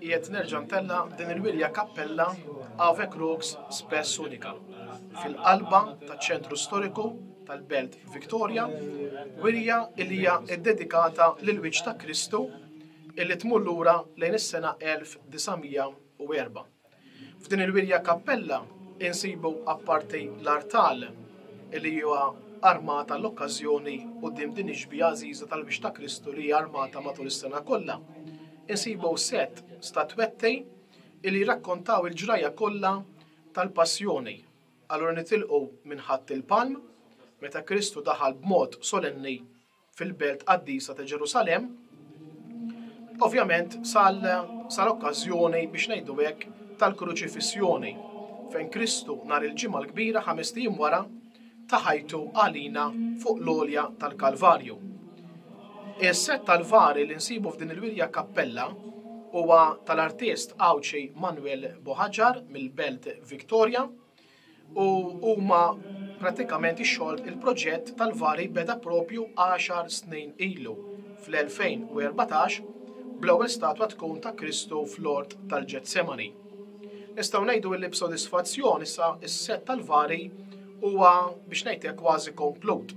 Qiegħed nerġa' ntella' din il-wirja kappella Ave Crux Spes Unica fil-qalba taċ-ċentru storiku tal-belt Victoria, wirja li hija ddedikata lill-wiċċ ta' Kristu li tmur lura lejn is-sena 1904. F'din il-wirja kappella insibu apparti l-artal li huwa armat għall-okkażjoni quddiem din ix-xbieha għażiża tal-Wiċċ ta' Kristu li hija armata matul is-sena kollha, insibu sett statwetti li jirrakkontaw il-ġrajja kollha tal-Passjoni. Allura nitilqu minn Ħadd il-Palm, meta Kristu daħal b'mod solenni fil-belt qaddisa ta' Ġerusalemm, ovvjament sal-okkażjoni biex ngħidu hekk tal-kruċifissjoni fejn Kristu nhar il-ġimgħa l-kbira ħames tim wara ta' ħajtu għalina fuq l-olja tal-Kalvarju. Is-set tal-vari li nsibu f'din il-wirja kappella huwa tal-artist Għawdxi Manuel Boħaġar mill-Belt Victoria u huma pratikament ix-xogħol il-proġett tal-vari beda propju 10 snin ilu fl-2014 bl-ewwel statwa tkun ta' Kristu fl-ort tal-Ġetsemani. Nistgħu ngħidu illi b'sodisfazzjon issa s-set tal-vari huwa biex ngħidlek kważi komplut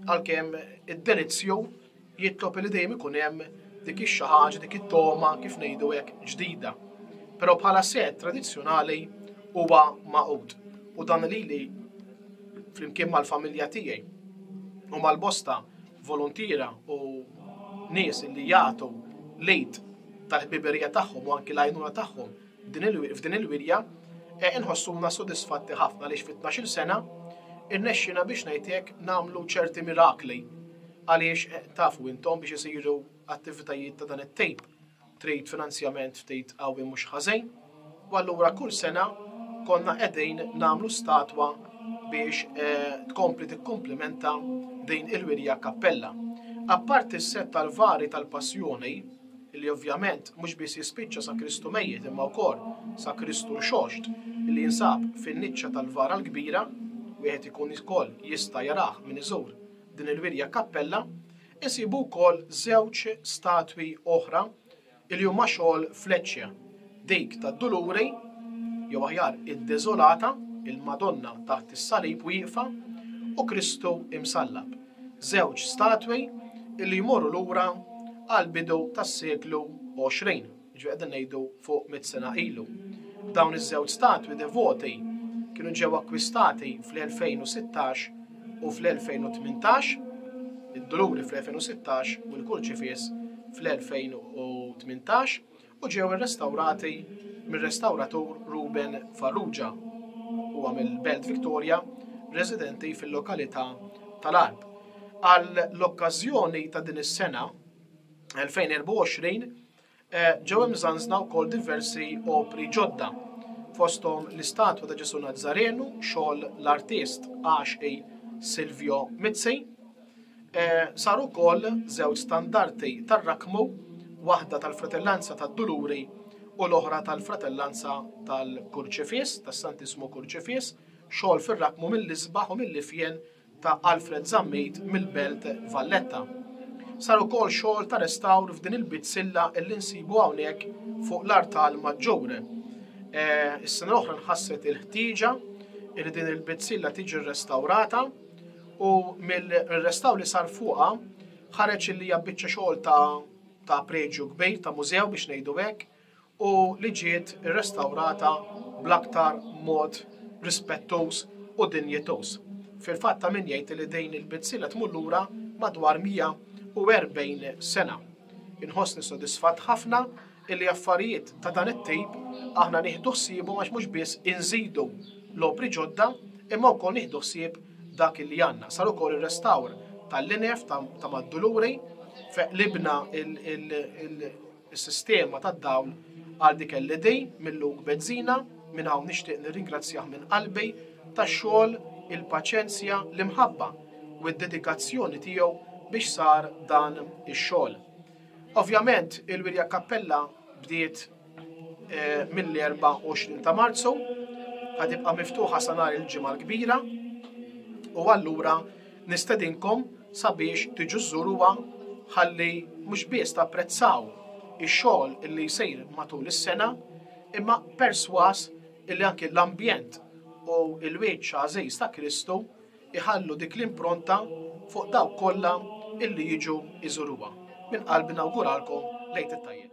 għalkemm id-delizzju jitlob li dejjem ikun hemm dik ix-xi ħaġa, dik it-togħma, kif ngħidu hekk, ġdida. Però bħala sett tradizzjonali huwa magħqud u dan lili flimkien mal-familja tiegħi u mal-bosta voluntiera u nies li jagħtu lejt tal-ħbiberija tagħhom u anki l-għajnuna tagħhom f'din il-wirja e inħossuna sodisfatti ħafna li fit-12 sena irnexxina biex ngħidlek nagħmlu ċerti mirakli Għaliex, tafu intom, biex isiru attivitajiet ta' dan it-tip, trid finanzjament ftit qawwi mhux ħażin, u allura kull sena konna qegħdin nagħmlu statwa biex eh, tkompli tikkumplimenta din il-wirja kappella. Apparti s-set tal-vari tal-passjoni, li ovvjament mhux biss jispiċċa sa Kristu mejjet imma wkoll sa Kristu xoxt li jinsab fin-niċċa tal-vara l-kbira, wieħed ikun ukoll jista' jarah minn iżur Din il-wirja kappella insibu wkoll żewġ statwi oħra li huma xogħol Fletcher, dik tad-Duluri, jew aħjar id-Deżolata, il-Madonna taħt is-salib wieqfa u Kristu imsallab, żewġ statwi li jmorru lura għall-bidu tas-seklu 20. Jiġifieri qegħdin ngħidu fuq mitt sena ilu. Dawn iż-żewġ statwi devoti kienu ġew akkwistati fl-2016 u fl-2018, id-duluri fl-2016 u l-kurċifiss fl-2018 u ġew irrestawrati mir-restawratur Ruben Farrugia, huwa mill-Belt Victoria, residenti fil-lokalità tal-Għarb. Għall-okkażjoni ta' din is-sena, 2024, Ġew imżanżna wkoll diversi opri ġodda, fosthom l-istatwa ta' Ġesù Nazzarenu, xogħol l-artist Għaxqi Silvio Mizzi. Saru wkoll żewġ standarti tar-Rakkmu, waħda tal-Fratellanza tad-Duluri u l-oħra tal-Fratellanza tal-Kurċifiss, tas-Santissmu Kurċifiss, xogħol fir-Rakkmu mill-isbaħ u mill-ifjen ta' Alfred Zammit mill-Belt Valletta. Sar ukoll xogħol ta' restawr f'din il-bizzilla li nsibu hawnhekk fuq l-Artal Maġġur. Eh, is-sena l-oħra nħasset il-ħtieġa li din il-bizzilla tiġi rrestawrata u mill-restaw li sar fuqa ħareġ li hija biċċa xogħol ta' ta' preġju kbir ta' mużew biex ngħidu hekk. u li ġiet irrestawrata bl-aktar mod rispettuż u dinjituż. Fil-fatt ta' min jgħid li din il-bidsiela tmur lura madwar 140 sena. Inħossni sodisfatt ħafna illi affarijiet ta' dan it-tip aħna nieħdu ħsiebhom għax mhux biss inżidu l-opri ġodda imma wkoll nieħdu ħsieb dak illi għandna. Sar ukoll ir-restawr tal-linef ta' Mad-Duluri, qlibna il is-sistema tad-dawl għal dik LED minn Luke Bezzina, minn hawn nixtieq nirringrazzjah minn qalbi tax-xogħol, il-paċenzja, l-imħabba u d-dedikazzjoni tiegħu biex sar dan ix-xogħol. Ovvjament il-wirja kappella bdiet mill-24 ta' Marzu, ħa tibqa' miftuħa sa nhar il-Ġimgħa l-Kbira u allura Nistedinkom sabiex tiġu żżuruha ħalli mhux biss tapprezzaw ix-xogħol li jsir matul is-sena, imma persważ illi anki l-ambjent u l-wiċċ għażiż ta' Kristu jħallu dik l-impronta fuq dawk kollha illi jiġu jżuruha. Minn qalbi nawguralkom l-Għid it-Tajjeb.